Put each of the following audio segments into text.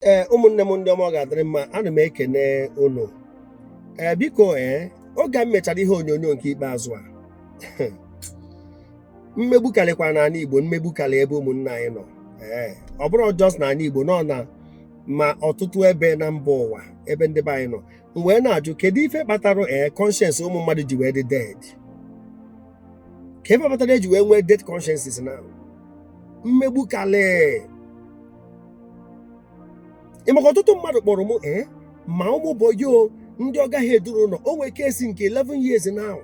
ee ụmụnne m ndị ọma ọ ga-adịrị mma ana m ekene unu ee biko ee oge m mechara ihe onyonyo nke ikpeazụ a mmegbu karịkwa n'ala igbo mmegbu karị ebe ụmụnne anyị nọ ee ọ bụrọ just n'ala igbo nọ na ma ọtụtụ ebe na mba ụwa ebe ndị be anyị nọ m wee na-ajụ kedu ife kpatara ee conscience ụmụ mmadụ ji wee dị dead kee ife kpatara eji wee nwee dead consciences na mmegbu karị ị maka ọtụtụ mmadụ kpọrọ m ee ma ụmụ bọyị o ndị ọga ha edurọ ụlọ o nwee case nke 11 years now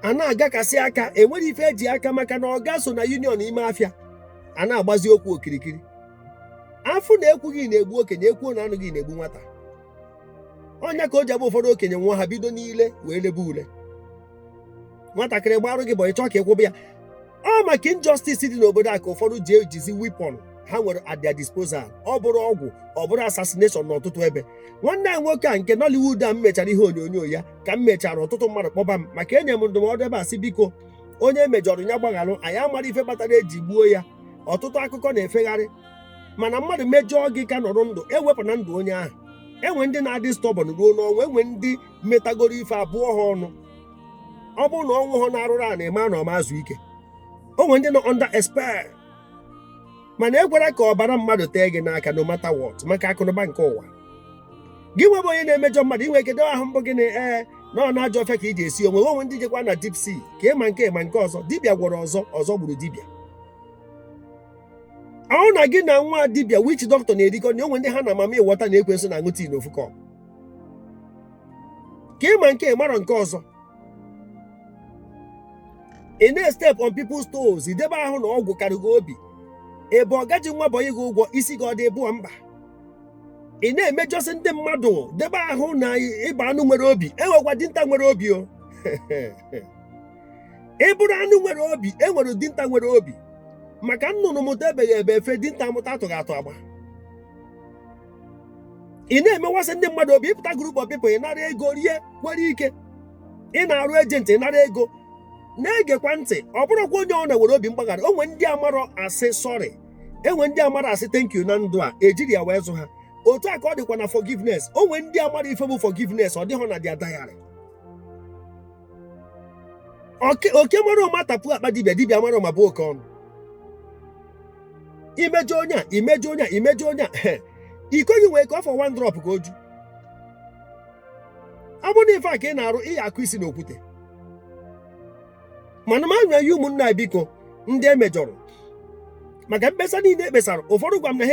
a na-aga case aka enwerọ ife eji aka maka na ọga so na union ime afịa a na-agbazi okwu okirikiri afụ na ekwughị na-egbu okenye ekwuo na anụghị na-egbu nwata ọ nya ka o ji abụ ụfọdụ okenye nwụa ha bido n'ile wee lebe ule nwatakịrị gbarụ gị bọyị ị chọ ka ị kwụba ya ọ maka injustice dị n'obodo a ka ụfọdụ ji ejizi weapon ha nwere at their disposal ọ bụrụ ọgwụ ọ bụrụ assassination n'ọtụtụ ebe nwanne anyị nwoke a nke Nollywood a m mechara ihe onyonyo ya ka m mechara ọtụtụ mmadụ kpọba m maka enye m ndụmọdụ ebe a sị biko onye emejọrọ nya gbagharụ anyị amarọ ife kpatara eji gbuo ya ọtụtụ akụkọ na-efegharị mana mmadụ mejọọ gị ka nọrọ ndụ ewepụna ndụ onye ahụ enwe ndị na-adị stubborn ruo n'ọnwụ enwe ndị metagoro ife a bụọ ha ọnụ ọ bụrụ na ọ nwụhọ n'arụrụ a na-eme na ọ ma ezu ike o nwere ndị nọ under a spell mana ekwela ka ọbara mmadụ tee gị n'aka no matter what maka akụnụba nke ụwa gị nwa bụ onye na-emejọ mmadụ i nwee ike debe ahụ mbụ gị na ee na ọ n'ajọ ọfịa ka ị ji esi ọnwụ o nwee ndị jekwa na deep sea ka ị ma nke a ị ma nke ọzọ dibịa gwọrọ ọzọ ọzọ gburu dibịa ahụ na gị na nwa dibịa witch doctor na-erikọ na o nwee ndị ha na mami wọta na ekwensu na-aṅụ tea na ofu cup ka ị ma nke a ị marọ nke ọzọ ị na-estep on people's toes i debe ahụ na ọgwụ karụ gị obi ị bụ ọga ji nwa bọyị gị ụgwọ isi gị ọ dị bụọ mba ị na-emejọsị ndị mmadụ debe ahụ na ị bụ anụ nwere obi enwekwa dinta nwere obi o ị bụrụ anụ nwere obi e nwere dinta nwere obi maka nnụnụ mụta ebeghị ebe efe dinta mụta atụghị atụ agba ị na-emewasị ndị mmadụ obi ịpụta group of people ị nara ego rie kwere ike ị na-arụ agent ị nara ego na-egekwa ntị ọ bụrọkwa onye ọbụna nwere obi mgbaghara o nwee ndị amarọ asị sorry enwe ndị amarọ asị thank you na ndụ a ejirọ ya wee zụọ ha otu a ka ọ dịkwa na forgiveness o nwee ndị amarọ ife bụ forgiveness ọ dịghọ na their diary oke mara ụma tapu akpa dibịa dibịa mara ụma bụọ oke ọnụ imejọ onye a imejọ onye a imejọ onye a iko gị nwee ike ọ fọ one drop ka o ju ọ bụrụ na ife a ka ị na-arụ ị ya-akụ isi n'okwute mana m na-ayọ ụmụnna biko ndị emejọrọ maka mkpesa niile ekpesara ụfọdụ gwa m na ha